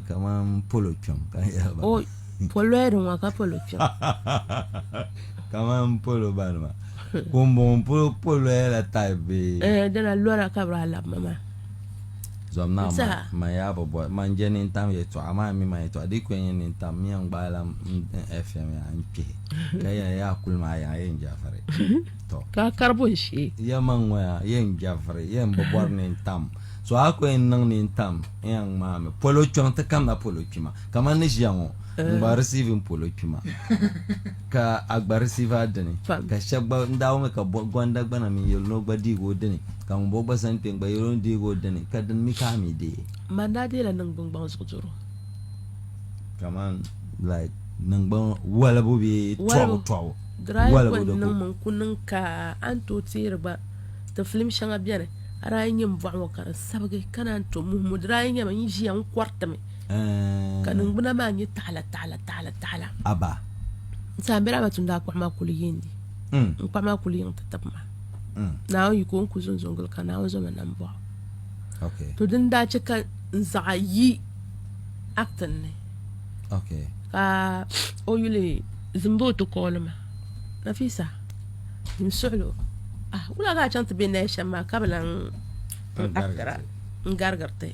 kamani polo kpɛm ka yaba o polo di ŋɔ ka polo kpɛm kamani polo bani ma ka n bɔŋɔ polo polo la tayi bɛ eh, dala lora ka bi alab ma maa zɔm na ma ma yaa bi bɔ ma n jɛ ni n tam yɛ tɔɣa maa mi ma yɛ tɔɣa di kpɛ nyɛ ni n tam mi n gbaai la fm yaa n kpɛ ka yɛ yaa kuli maa yaa yɛ n jafari tɔ ka karibu n shee yɛ ma ŋɔ yaa yɛ n jafari yɛ n bi bɔri ni n tam So a ko yɛn niŋ ni n-tam ya ŋmaa mi polo kpiɔŋ ti kamda polo kpima kaman ni ʒiya ŋɔ n-gba receive n polo kpima ka a gba receive a dini ka shɛba gba n daa wummi ka Gonda gba na mi yɛli ni o gba deegi o dini ka ŋun bɔŋɔ gba zani kpe n-gba yɛli o ni deegi o dini ka dini mi ka a mi deei. Man daa deela niŋgbuŋ gbaŋ zuɣu doro. Kaman like niŋgbuŋ walibu bee tɔbu tɔbu. Dry ko n-niŋ mi n-ku niŋ ka a ni tooi teeri gba. Ti filim shɛŋa bɛni a daa yi nyɛ m bɔɣu ŋɔ ka di sabigi ka naan to muhi mo di daa yi nyɛmi n yi ʒiya n kɔritimi ka ningbuna maa nyɛ taɣila taɣila taɣila taɣila aba n saa bɛ daa ma tumdi a kpaɣu maa kuli yi ndi mm. n kpaɣu maa kuli yiŋ ti tib ma mm. naawuni yi ko n ku zunzun gili ka naawuni zoma nam bɔɣu okay. to din daa chɛ ka n zaɣa yi actin ni okay. ka o yuli zimbo ti kɔɔli ma nafisa N suɣilo ah wula ka a chaŋ ti be naya shɛm maa ka bi laŋ n akitira n garigiri ti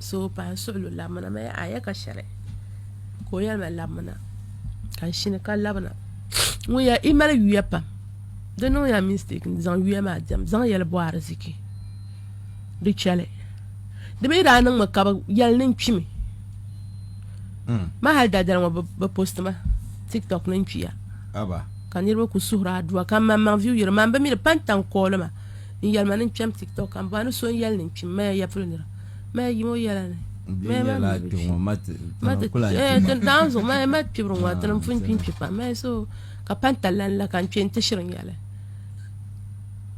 so pahi n suɣilo labimina ma a ya ka shɛli ka o yɛli ma labimina ka n shini ka labina ŋun ya i mali yuya pam di niŋya mistake n zaŋ yuya maa diɛm zaŋ yɛli bɔ ariziki di chɛli di mi daa niŋmi ka bi yɛli ni n kpimi ma hali dadali ŋɔ bi posti ma tiktok ni n kpiya aba Ka niriba ku suhiri adua ka maŋmaŋ viu yiri man bi mi di pan tan kooli ma n yɛli ma ni n kpɛm tiktok ka n bɔha ni so n yɛli ni n kpim maya yɛpuli nira maya yim o yɛla ni maya ma mi bi kpi ma ti daan zuɣu maya ma kpibiri ŋɔ ti ni n pun kpi n kpi pam maya so ka pan talan la ka n kpɛ n ti shiri n yɛli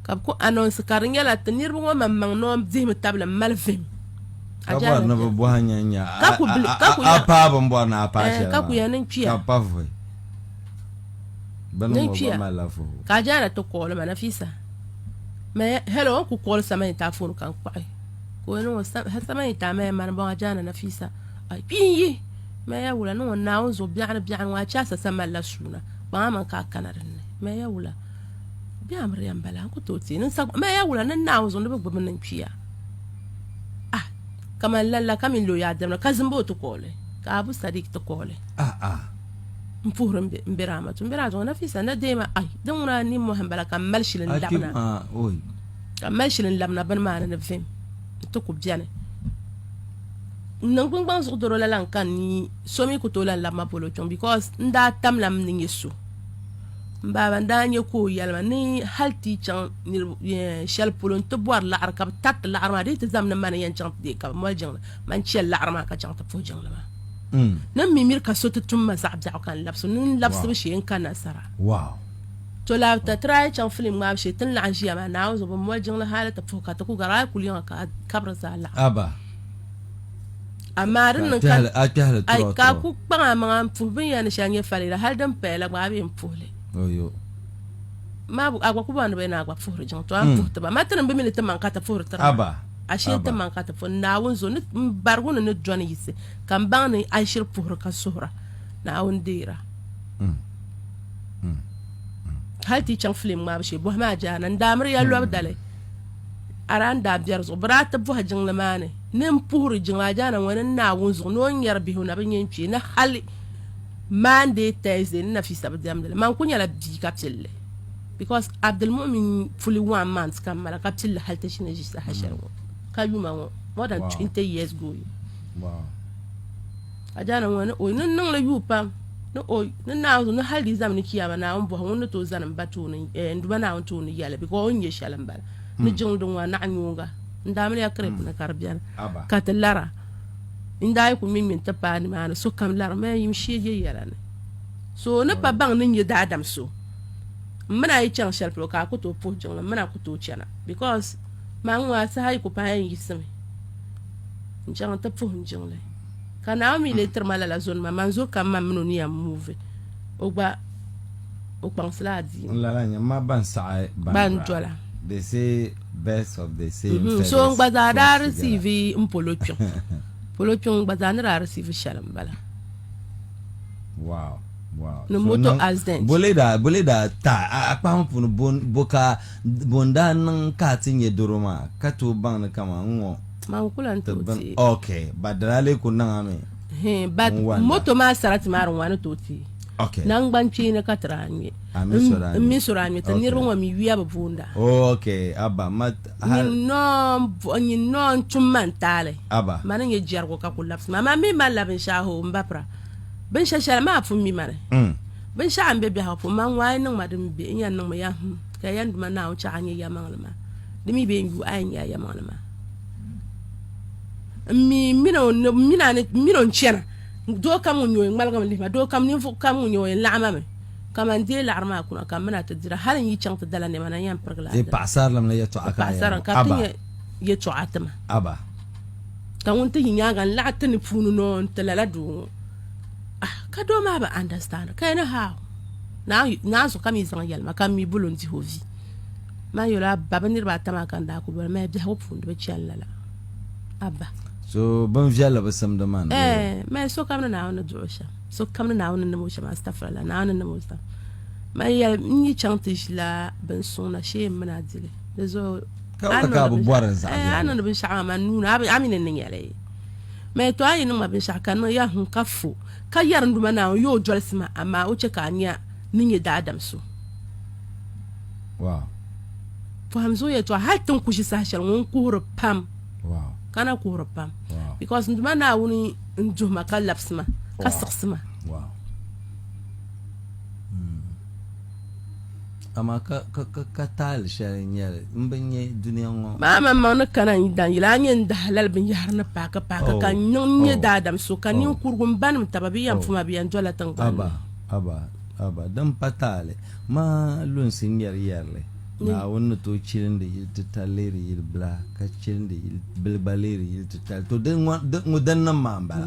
ka bi ku anonsi ka di nyɛla ti niriba ŋɔ maŋmaŋ ni o dihimi tabili n mali vim ka bɔri ni bi bɔha nyɛ nyɛ a paa bin bɔri ni a paa shɛli ka ku ya ni n kpiya ka pa vɔi Ni kpiya ka a jaara ti kooli ma Nafisa. Me hello n ku kooli samani ta fon kan kpaɣi. Ka o niŋ o samani ta me mani bɔŋ a jaana Nafisa. A kpi n yi me ya wula niŋ o naawun zuɣu biɛɣuni biɛɣuni ŋɔ a chaasa sa malila suuna kpaŋa man ka a kana dinni me ya wula bɛ amiriya n bala n ku tooi teei niŋ me ya wula niŋ naawun zuɣu ni bi gbubi niŋ kpiya ah kamani lalla ka min lo ya dɛmda ka zimbo ti kooli ka abu sadik ti kooli ah ah n puhiri n bɛ raamatu n bɛ raamatu nafisa na deema ai din ŋuna ni mohan bala ka mali shili n labina ka mali shili n labina bini maa ni ni vim n ti ku biɛni n niŋ gbingbaŋ zuɣu doro la lan ka ni so mi ku tooi lan labima polo kpɛŋ because n daa tamla m ni nyɛ so n baaba n daa nyɛ ka o yɛlima ni hali ti chaŋ shɛli polo n ti bɔri laɣari ka bi tariti laɣari maa di ti zam ni mani yɛn chaŋ ti deei ka bi mali jiŋli man chɛ laɣari maa ka chaŋ ti puhi jiŋli maa mm. ni mi miri ka so ti tum ma zaɣ biɛɣu ka n labisi nu n labisibu shee n ka nasara to la ta tiri a chaŋ filim ŋmaabu shee ti ni laɣam ʒiya maa naawuni zuɣu bi moli jiŋli hali ti puhi ka ti ku gari a kuli yiŋa ka kabiri zaa laɣam amaa din niŋ ka ku kpaŋ a maŋa n puhi binyɛri ni shɛli nyɛ falila hali din paya la gba a bee n puhili maa a gba ku bɔŋ ni bɛ ni a gba puhiri jiŋ to a ni mm. puhi tiba ma ti ni bi mi ni ti maŋ ka ti puhiri tira Ashe Aba. timaŋ ka ti fo Naawuni zo ni m barigu ni ni dɔni yisi ka m baŋ ni alishiri puhiri ka suhira Naawuni deera. Hali ti yi chaŋ filim ŋmaabu shee bɔhi maa jaana n daa miri ya lɔbi dali a daa n daa biɛri zuɣu bɛ daa ti bɔhi jiŋli maa ni ni n puhiri jiŋli a jaana ŋɔ ni n Naawuni zuɣu ni o nyari bihi o na bi nyɛ n kpee ni hali Monday, Thursday ni Nafisa bi diɛmdi li man ku nyɛla bia ka pilli. Because Abdulmumin fully one month ka mala ka pilli hali ti shini ʒi saha shɛli ŋɔ ka yuma ŋɔ more than 20 years going. Ka jaana ŋɔ ni o ni niŋli yuu pam ni o ni naawuni ni hali di zami ni kiyama naawuni bɔhi ŋun ni tooi zani m ba tooni eh, n duba naawuni tooni yɛli because o ni nyɛ shɛli m bala hmm. ni jiŋli din ŋɔ naɣi nyuunga n daa mini ya kirip hmm. ni ka di bɛni ka ti lara n daa yi ku ŋmin ŋmin ti paai nimaani sokam larimi yim shee je yɛla ni so ni pa baŋ ni nyɛ daadam so m mini a yi chaŋ shɛli polo ka a ku tooi puhi jiŋli m mini a ku tooi chana bikos maa ŋɔ a saha yi ku paai n yiɣisimi n chaŋ n ti puhi n jiŋli ka naomi lee tiri ma lala zo nima man zo kam man mini o ni yɛn muuvi o gba o kpaŋsila adiini lala nyɛ ma ban saɣi ban dola they say birds of the same Mhm, feathers so n gba zaa daa flock together. risiivi n polo kpiŋ polo kpiŋ n gba zaa ni daa risiivi shɛli n bala wow ni moto accident bole daa bole daa ta a kpahim puuni bon bo ka bon daa niŋ ka ti nyɛ doro maa ka tooi baŋ ni kama n ŋɔ man kula n tooi ti ok ba dala lee ku niŋa mi but moto maa sarati maa di ŋwani tooi ti ok nangban kpeeni ka tira nyɛ n mi sora nyɛ ti niriba ŋɔ mi yuya bi boonda ok aba ma nyin nɔɔ n tum man taali aba ma ni nyɛ jɛrigu ka ku labisi ma ma mi ma labi n shaaho n ba pira Binshɛ shɛli maa pun mi ma ni. Mm. Binshɛɣu n be biɛhigu pun ma ŋɔ a yi niŋ ma din be n yɛn niŋ mi ya hum ka yɛn duma Naawuni chaɣ a nyɛ yɛlimaŋli maa. Di mi be n yu a yɛn nyɛ a yɛlimaŋli maa. N mi n min o n min a ni n min o n chana doo kam ŋun nyɛ o yɛn ŋmaligi mi lihi ma doo kam ninvuɣ kam ŋun nyɛ o yɛn laɣim a mi kaman deei laɣiri maa kuna ka m min a ti dira hal n yi chaŋ ti dala nɛma na n yɛn pirigi la a E dira. paɣasarilim ni yɛtɔɣa ka a Paɣasara yɛn ka ti aba nyɛ yɛtɔɣa ti ma. aba. Ka ŋun ti yi nyaaŋa n-laɣi ti ni puuni ni o n-ti lala doo ŋɔ. Ah, ka doo maa bi understand ka yɛli, How? Naanzu ka mi zaŋ yɛlima ka m mi bol o n-dihi o vi. Maa yɛl o, Abba, bɛ niriba ata maa ka n daa kul boli maya biɛhigu puuni di bi chani lala. Abba. So bin viɛlli bi simdi man. Ɛɛh, maya sokam ni Naawuni ni duɣ o shɛm, sokam ni Naawuni ni nim o shɛm, astafurallah, Naawuni ni nim o shɛm. Maya yɛli, N ni yi chaŋ ti ʒila bin suŋ na shee m mini a dili. di zuɣu a niŋdi binshaɣu maa man nuuni a mi ni niŋ yɛli mɛ to a yi niŋ ma binshaɣu ka niŋ ya hun ka fo ka yɛri n duma naawuni yoo dolisi ma amaa o chɛ ka a nya ni nyɛ daadam so pɔhim zuɣu yɛtɔɣa hali tin ku ʒi saha shɛli ŋun kuhiri pam ka na kuhiri pam because n duma naawuni n duhi ma ka labisi ma ka siɣisi ma Amaa ka, ka, ka, ka taali shɛli n-nyɛ li, m bi nya dunia ŋɔ. Maa man maŋ ni kana n dan yila a nyɛ n dahi lali binyɛhiri ni paaki paaki Oh, ka n niŋ n nyɛ oh, daadam so, ka oh. ninkurugu m banim taba bɛ yɛn Oh. puma bɛ yɛn dɔla tiŋgbani Aba, ni. aba, aba, din pa taali maa lunsi ŋmɛri yɛrili, Ni. Naawuni ni tooi chilindi yil titali leeri yil bila, ka chilindi yil bil gba leeri yil titali. To, di, ŋɔ, di, ŋɔ din niŋ maa m-bala.